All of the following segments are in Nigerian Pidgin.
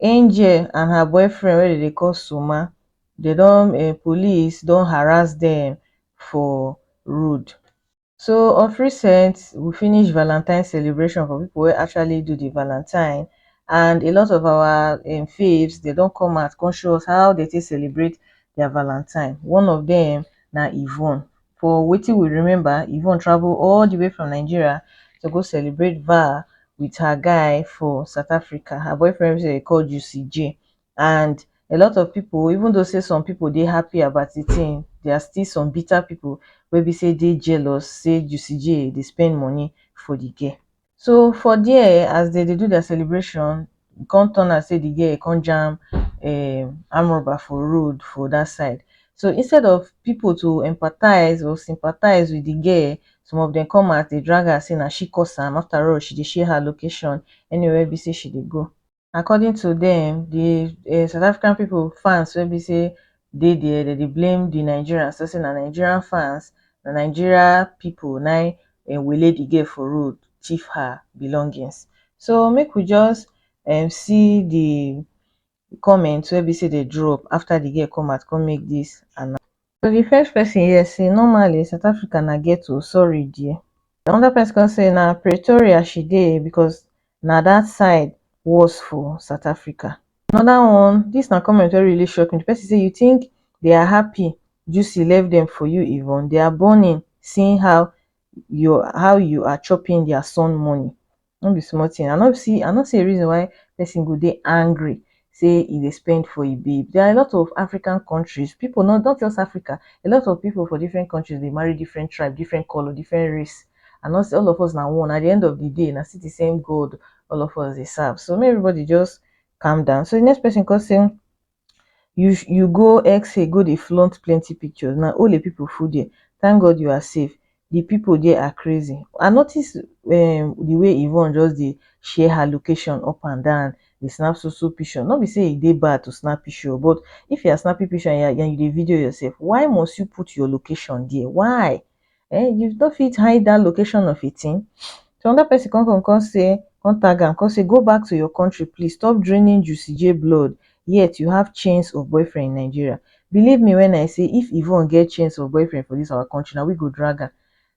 angel and her boyfriend wey dem dey call suma dem don um police don harass dem for road so of recent we finish valantine celebration for people wey actually do the valantine and a lot of our um faves dem don come out come show us how dem take celebrate their valantine one of dem na yvonne for wetin we remember yvonne travel all the way from nigeria to go celebrate val with her guy for south africa her boyfriend wey dem call juicy j and a lot of people even though say some people dey happy about the thing there are still some bitter people wey be say dey jealous say juicy j dey spend money for the girl so for there um as dem dey do their celebration e come turn out sey the girl come jam um armed robber for road for that side so instead of people to empathize or sympathize with the girl some of dem come out dey drag her say na she cause am after all she dey share her location anywhere wey be sey she dey go according to dem di um south africa pipo fans wey be say dey dia dem dey blame di nigerians tok say na nigeria fans na nigeria pipo na im wele di girl for road tiff her belongings so make we just um see di comment wey be say dem drop afta di girl come out come make dis announce to di first pesin hear say normally south africa na ghetto sorry dear di anoda pesin come say na pretoria she dey becos na dat side worse for south africa anoda one dis na comment wey really shock me di pesin say you tink they are happy Juicy left dem for you Yvonne they are burning seeing how you are chopping their son money no be small thing. I no see I no see a reason why person go dey angry say e dey spend for a babe. There are a lot of African countries, people not not just Africa, a lot of people for different countries dey marry different tribe, different color, different race. And not say all of us na one. At the end of the day, na still the same God all of us dey serve. So make everybody just calm down. So the next person come say you you go xxxay go dey flaunt plenty pictures na ole people full there thank God you are safe the people there are crazy I notice um the way Yvonne just dey share her location up and down dey snap so so picture no be say e dey bad to snap picture o but if you are snapping picture and you dey video yourself why must you put your location there why um you no fit hide dat location of a thing so another person come come come say come tag am come say go back to your country please stop draining Juicy J blood yet you have chains of boyfriend in Nigeria believe me when I say if Yvonne get chains of boyfriend for this our country na we go drag am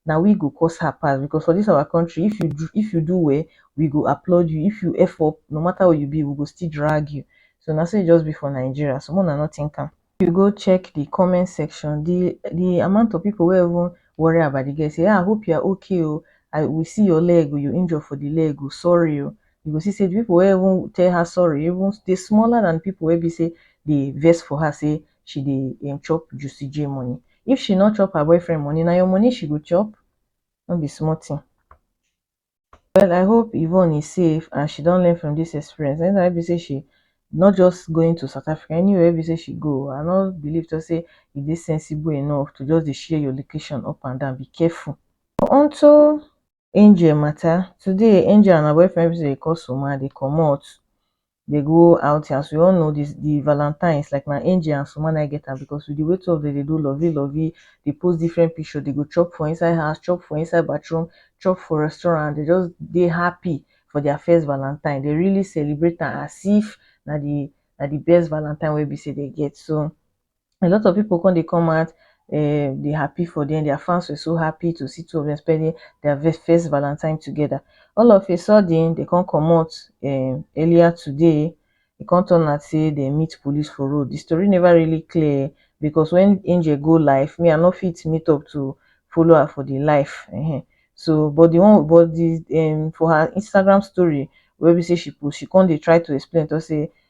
na we go cause her pass because for this our country if you do if you do well we go applaud you if you F up no matter who you be we go still drag you so na so e just be for Nigeria so make una no think am. if you go check the comment section the the amount of people wey even worry about the girl say ah hope you are okay o i we see your leg o you injure for the leg o sorry o you go see say the people wey even tell her sorry even dey smaller than people wey be say dey vex for her say she dey um chop juicy j money if she no chop her boyfriend money na your money she go chop no be small thing Well I hope Yvonne is safe and she don learn from this experience anytime wey be say she not just going to South Africa anywhere wey be say she go I no believe to say e dey sensible enough to just dey share your location up and down be careful. Onto Angel matter today Angel and her boyfriend wey be say dem dey call Soma dey comot dey go outing as we all know dis di valantines like na angel and suma na im get am because with di way two of dem dey do lovey lovey dey post different picture dey go chop for inside house chop for inside bathroom chop for restaurant dey just dey happy for their first valantine dey really celebrate am as if na di na di best valantine wey be sey dey get so a lot of people come dey come out um dey happy for them their fans were so happy to see two of them spending their ve- first valentine together all of a sudden they come comot um earlier today e come turn out say they meet police for road the story never really clear because when angel go live me i no fit meet up to follow her for the live um so but the one but the um for her instagram story wey be say she post she come dey try to explain talk say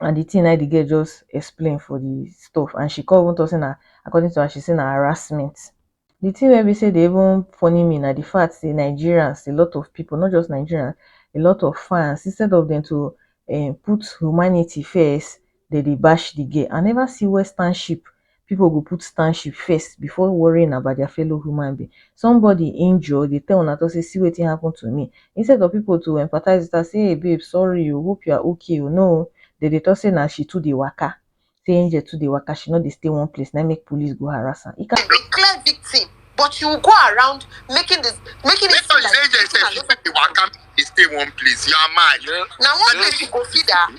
and the thing na the girl just explain for the stuff and she come even talk say na according to her she say na harassment the thing wey be say dey even funny me na the fact say nigerians a lot of people not just nigerians a lot of fans instead of them to um, put humanity first they dey bash the girl i never see western ship people go put township first before worrying about their fellow human being. Somebody injure dey tell una talk say see wetin happen to me. Instead of people to empathize with her say hey babe sorry o hope you are okay o no o dem dey talk say na she too dey waka say Angel too dey waka she no dey stay one place na im make police go harass am. E can be clear victim but you go around making the making it seem like Angel sef she too dey waka dey stay one place you are mad na one place you go feed her.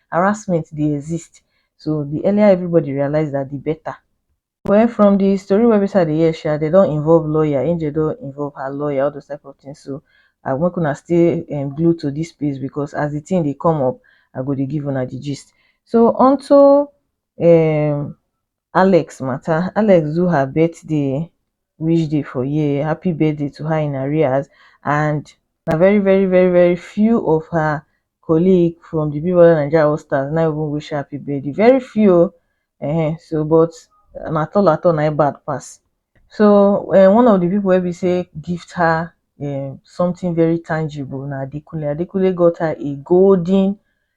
harassment dey exist so di earlier everybody realize dat di better well from di story wey be sey I dey hear sha dem don involve lawyer, Angel don involve her lawyer all those type of things so I make una stay glued to dis space because as di thing dey come up I go dey give una di gist so unto um alex matter alex do her birthday wish day for year happy birthday to her in arrears and na very very very very few of her colleague from the big brother naija all stars na even wish her happy birthday very few o um so but na tall at all na im bad pass so um one of the people wey be say gift her um something very tangible na adekunle adekunle got her a golden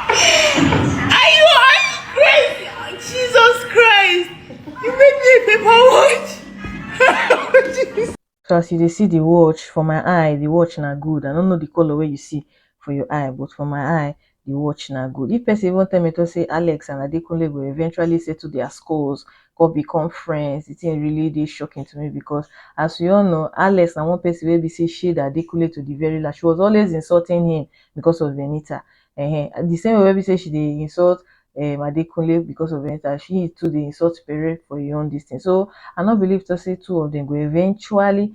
Are you are you crazy? Jesus Christ! You made me a paper watch. So as you dey see the watch, for my eye, the watch na good. I no know the color wey you see for your eye, but for my eye, the watch na good if person even tell me to say alex and adekunle go eventually settle their scores come become friends the thing really dey shocking to me because as we all know alex na one person wey be say shade adekunle to the very last she was always insulting him because of venita uh-huh. the same way wey be say she dey insult um, adekunle because of venita she too dey insult pere for her own this thing so i no believe to say two of them go eventually